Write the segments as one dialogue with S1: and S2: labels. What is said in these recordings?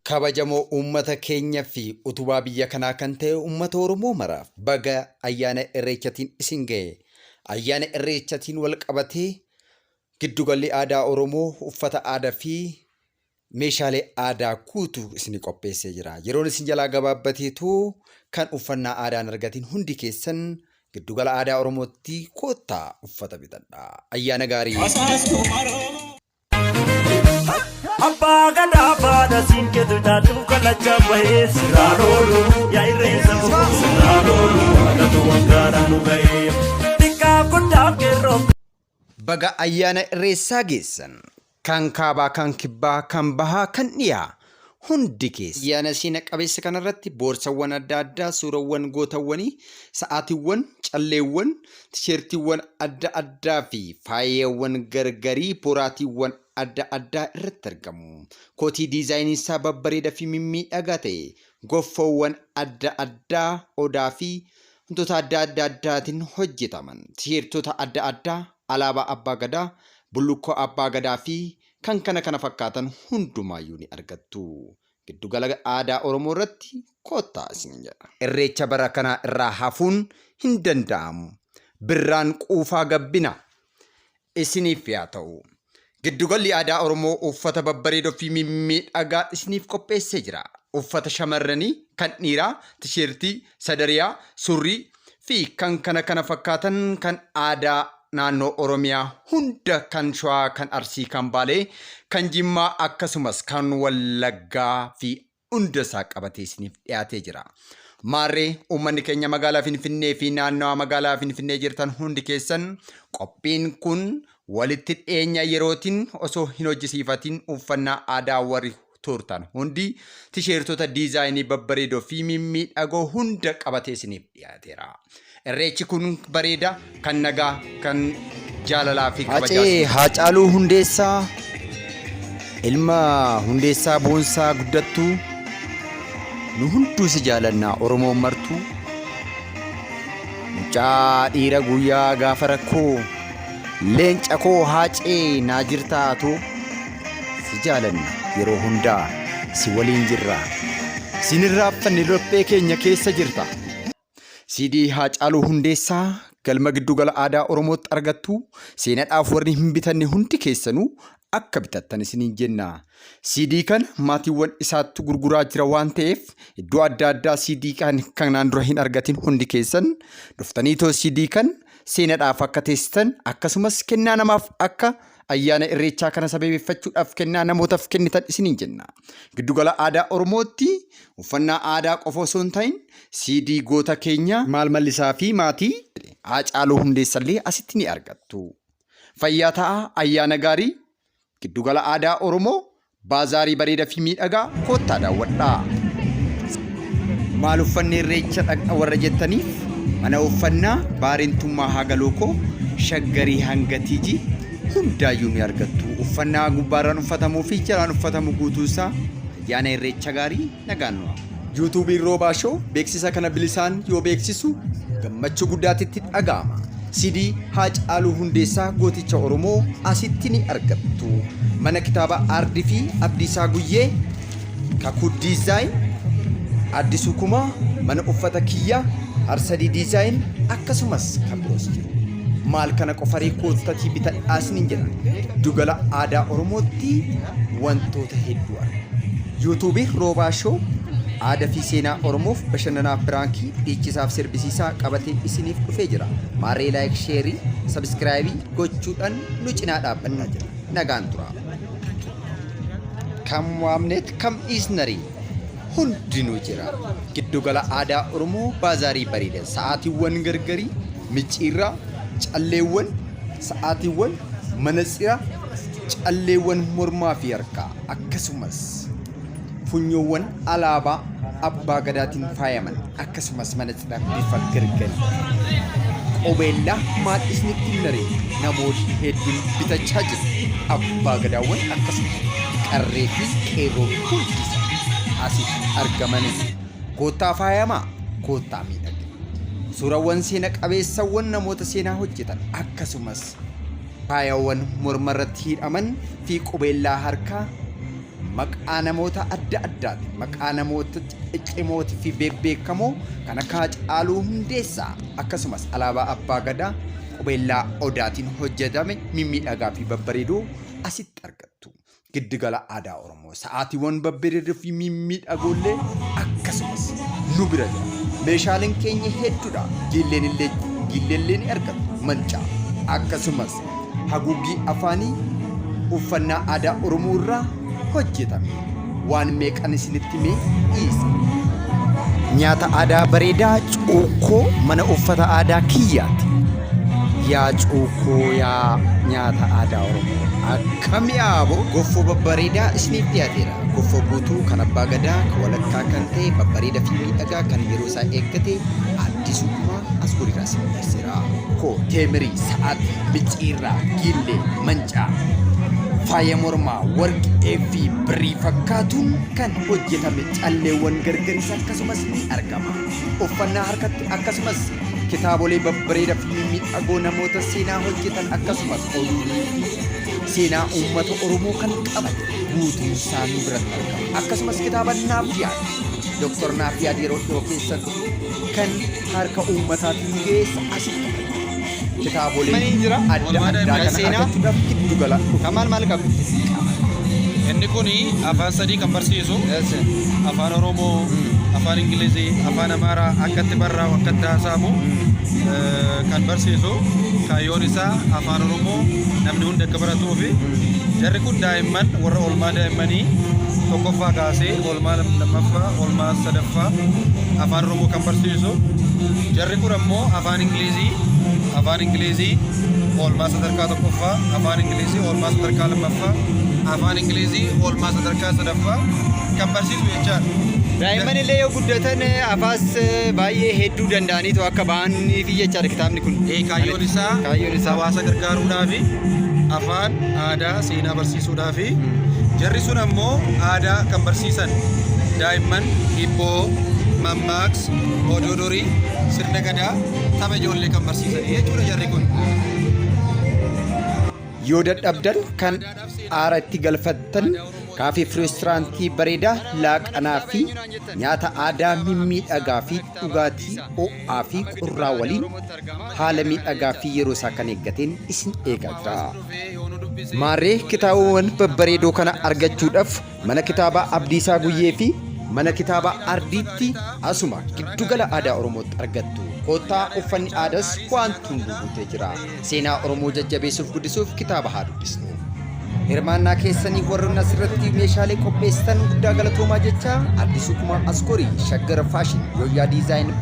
S1: Kabajamoo uummata keenya fi utubaa biyya kanaa kan ta'e uummata Oromoo maraaf baga ayyaana Irreechatiin isin ga'e. Ayyaana Irreechatiin wal qabatee Giddugalli Aadaa Oromoo uffata aadaa fi meeshaalee aadaa guutuu isinii qopheessee jira. Yeroon isin jalaa gabaabbateetu kan uffannaa aadaa hin argatin hundi keessan giddugala aadaa Oromootti koottaa uffata bitadhaa. Ayyaana gaarii! Abbaa
S2: gadaa baada siinkeetu taatu kalacha bahee siraa loolu yaa irreessa boqoo siraa loolu haadhatu waggaadhaan nu ga'ee xiqqaa guddaa keerroo. Baga
S1: Ayyaana Irreessaa geessan! Kan Kaabaa, kan Kibbaa, kan Bahaa, kan Dhiyaa hundi keessan. Ayyaana seena qabeessa kanarratti boorsawwan adda addaa suurawwan gootawwanii, sa'aatiwwan, calleewwan, tisheertiiwwan adda addaa fi faayawwan gargarii, boraatiiwwan adda addaa irratti argamu. Kootii diizaayiniinsaa babbareeda fi mimmiidhagaa ta'e, goffoowwan adda addaa, odaa fi wantoota adda adda addaatiin hojjetaman tiirtota adda addaa, alaabaa abbaa gadaa, bullukkoo abbaa gadaa fi kan kana kana fakkaatan hundumaayyuu ni argattu. Giddu gala aadaa Oromoo irratti kottaa isiniin jedha. Irreecha bara kanaa irraa hafuun hin danda'amu. Birraan quufaa gabbina. isiniif yaa ta'u. Giddugalli Aadaa Oromoo uffata babbareedoo fi mimmiidhagaa isiniif qopheessee jira. Uffata shamarranii, kan dhiiraa, tisheertii, sadariyaa, surrii, fi kan kana kana fakkaatan kan aadaa naannoo Oromiyaa hunda kan Shawaa, kan Arsii, kan Baalee, kan Jimmaa akkasumas kan Wallaggaa fi hunda isaa qabatee isiniif dhiyaatee jira. Maarree uummanni keenya magaalaa Finfinnee fi naannawaa magaalaa Finfinnee jirtan hundi keessan qophiin kun walitti dhiyeenya yerootiin osoo hin hojjisiifatiin uffannaa aadaa warri tuurtan hundi tisheertota diizaayinii babbareedoo fi mimmiidhagoo hunda qabatee isiniif dhiyaateera. Irreechi kun bareeda, kan nagaa, kan jaalalaa fi kabajaa. Hacee Haacaaluu Hundeessaa ilma Hundeessaa Boonsaa guddattuu nu hunduu si jaalannaa Oromoon martuu mucaa dhiira guyyaa gaafa rakkoo leenca koo Haacee naa jirtaa too. Si jaalanna yeroo hundaa si waliin jirra. Siin hin raaffanne laphee keenya keessa jirta. CD Haacaaluu Hundeessaa galma giddugala aadaa Oromootti argattu seenadhaaf warri hin bitanne hundi keessanuu akka bitattan isiniin jenna. CD kana maatiiwwan isaattu gurguraa jira waan ta'eef iddoo adda addaa CD kan kanaan dura hin argatin hundi keessan dhuftanii too CD kan seenadhaaf akka teessitan akkasumas kennaa namaaf akka Ayyaana Irreechaa kana sabeebeffachuudhaaf kennaa namootaf kennitan isiniin jenna. Giddu Gala Aadaa Oromootti uffannaa aadaa qofa osoo hin ta'in CD goota keenya Maal Mallisaa fi maatii Haacaaluu Hundeessallee asitti ni argattu. Fayyaa ta'aa, ayyaana gaarii! Giddu Gala Aadaa Oromoo Baazaarii bareeda fi miidhagaa koottaa daawwadhaa. Maal uffanne irreecha dhaqna warra jettaniif mana uffannaa Baarentummaa Hagalookoo Shaggarii hanga TG hundaayyuu ni argattu. Uffannaa gubbaarraan uffatamuu fi jalaan uffatamu guutuunsaa ayyaana irreecha gaarii Nagaan nuuf. Yuutuubiin Roobaa Show beeksisa kana bilisaan yoo beeksisu gammachuu guddaatti itti dhaga'ama. CD Haacaaluu Hundeessaa Gooticha Oromoo asitti ni argattu. Mana kitaaba Aardii fi Abdiisaa Guyyee, Kakuu Diizaayin, Addisuu Kumaa, Mana Uffata Kiyyaa, Harsadii Diizaayin akkasumas kan biroos jiru. Maal kana qofaree koottatii bitadhaa isiniin jedha. Giddugala aadaa Oromootti wantoota hedduu arga. Yuutuubii Roobaa Show aadaa fi seenaa Oromoof bashannanaa piraankii dhiichisaaf sirbisiisaa qabatee isiniif dhufee jira. Maarree laayik sheerii sabiskiraayibii gochuudhaan nu cinaa dhaabbannaa jira. Nagaan turaa. Kam waamneet kam dhiisnarii. hundinuu jira. Giddugala Aadaa Oromoo Baazaarii Bareeda sa'aatiiwwan gargarii, micciirraa, calleewwan, sa'aatiiwwan, manatsira, calleewwan mormaa fi harkaa akkasumas funyoowwan alaabaa Abbaa Gadaatiin faayaman akkasumas mana cidhaa bifa gargari qubeellaa maadhisni kunnaree namoonni hedduun bitachaa jiru abbaa gadaawwan akkasumas qarree fi qeerroo hundi asitti argamanii koottaa faayamaa koottaa miidhagina suurawwan seena qabeessawwan namoota seenaa hojjetan akkasumas faayawwan morma irratti hidhaman fi qubeellaa harkaa Maqaa namoota adda addaatiin maqaa namoota ciccimootii fi beebbeekamoo kan akka Hacaaluu Hundeessaa akkasumas alaabaa Abbaa Gadaa qubeellaa Odaatiin hojjetame mimmiidhagaa fi babbareedoo asitti argattu. Giddugala Aadaa Oromoo sa'aatiiwwan babbareedoo fi mimmiidhagoollee akkasumas nu bira jira. Meeshaaleen keenya hedduudha. Giilleen illee giilleellee ni argattu. Mancaa akkasumas haguuggii afaanii uffannaa aadaa Oromoo irraa hojjetame. Waan meeqan isinitti mee dhiisa. Nyaata aadaa bareedaa cuukkoo mana uffata aadaa kiyyaati. Yaa cuukkoo yaa nyaata aadaa Oromoo. Akkam yaaboo goffoo babbareedaa isiniif dhiyaateera. Goffoo guutuu kan abbaa gadaa kan walakkaa kan ta'e babbareedaa fi miidhagaa kan yeroo isaa eeggate addisuu kumaa as guriidhaa isin dhiyeesseera. koo, teemirii, sa'aatii, micciirraa, giillee, mancaa, faaya mormaa, warqee fi birrii fakkaatuun kan hojjetame calleewwan gargaris akkasumas ni argama. Uffannaa harkatti akkasumas kitaabolee babbareeda fi mimmiidhagoo namoota seenaa hojjetan akkasumas oduulee fi seenaa uummata Oromoo kan qaban guutuun isaa nu biratti argama. Akkasumas kitaaba Naafiyaad, Dooktar Naafiyaad yeroo dhiyoo keessatti kan harka uummataatti nu geessa asi. Kitaabolee Manii jira. adda Walmaata addaa Ibrahim kana Seenaa. argachuudhaaf giddu gala dhufa. Kan maal maal qabu?
S3: Inni kun afaan sadii kan barsiisu afaan Oromoo, afaan Ingilizii, afaan Amaaraa akkatti barraa'u akkatti haasa'amu eh, kan barsiisu kaayyoon isaa afaan Oromoo namni hundi akka baratuufi jarri kun daa'imman warra oolmaa daa'immanii tokkoffaa kaasee Oolmaa lammaffaa, oolmaa sadaffaa afaan Oromoo kan barsiisu. Jarri kun ammoo afaan Ingilizii, afaan Ingilizii oolmaa sadarkaa tokkoffaa, afaan Ingilizii oolmaa sadarkaa lammaffaa, afaan Ingilizii oolmaa sadarkaa sadaffaa kan barsiisu jechaadha. Daa'imman illee
S4: yoo guddatan afaas baay'ee hedduu danda'aniitu akka ba'anii fi jechaadha kitaabni kun. Ee, kaayyoon isaa
S3: Kaayyoon isaa. hawaasa gargaaruudhaa fi afaan aadaa seenaa barsiisuudha. fi jarri sun ammoo aadaa kan barsiisan daa'imman hibboo, mammaaks, oduu durii, sirna gadaa, tapha ijoollee kan barsiisan jechuudha jarri kun.
S1: Yoo dadhabdan kan aara itti galfattan kaafee fi reesturaantii bareedaa laaqanaa fi nyaata aadaa mimmiidhagaa fi dhugaatii ho'aa fi qorraa waliin haala miidhagaa fi yeroo isaa kan eeggateen isin eegaa jira. Maarree kitaabawwan babbareedoo kana argachuudhaf Mana Kitaabaa Abdiisaa Guyyee fi Mana Kitaabaa Ardiitti asuma Giddu Gala Aadaa Oromootti argattu. Koottaa uffanni aadas waanti hunduu guutee jira. Seenaa Oromoo jajjabeessuuf guddisuuf kitaaba haa dubbisnu. Hirmaannaa keessaniif warroonni asirratti meeshaalee qopheessitan guddaa galatoomaa jechaa Addisuu Kumaa Asgoorii Shaggar Faashin Yooyyaa Diizaayin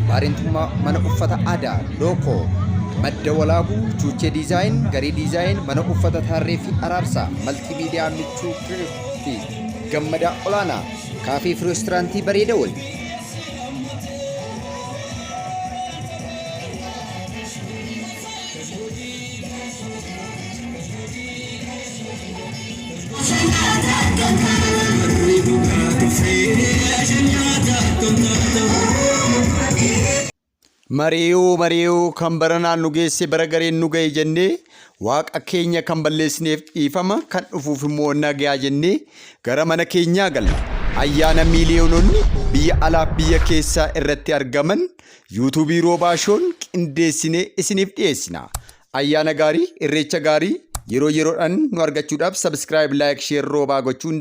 S1: Baareentummaa mana uffata adaa Lookoo Madda Walaabuu Chuuchee Diizaayin Garee Diizaayin mana uffata Tarree fi Araarsaa Maltii Miidiyaa Michuu Kirif fi Gammadaa Olaanaa Kaafee fi Reesturaantii Bareeda Wali. Mari'uu mari'uu kan baranaan nu geesse bara gareen nu gahe jennee waaqa keenya kan balleessineef dhiifama kan dhufuuf immoo nagayaa jennee gara mana keenyaa galla. Ayyaana miiliyoononni biyya alaaf biyya keessaa irratti argaman Yuutuubii Roobaa Shown qindeessinee isiniif dhiyeessina. Ayyaana gaarii, Irreecha gaarii, yeroo yeroodhaan nu argachuudhaaf subscribe, like, share Roobaa gochuu hin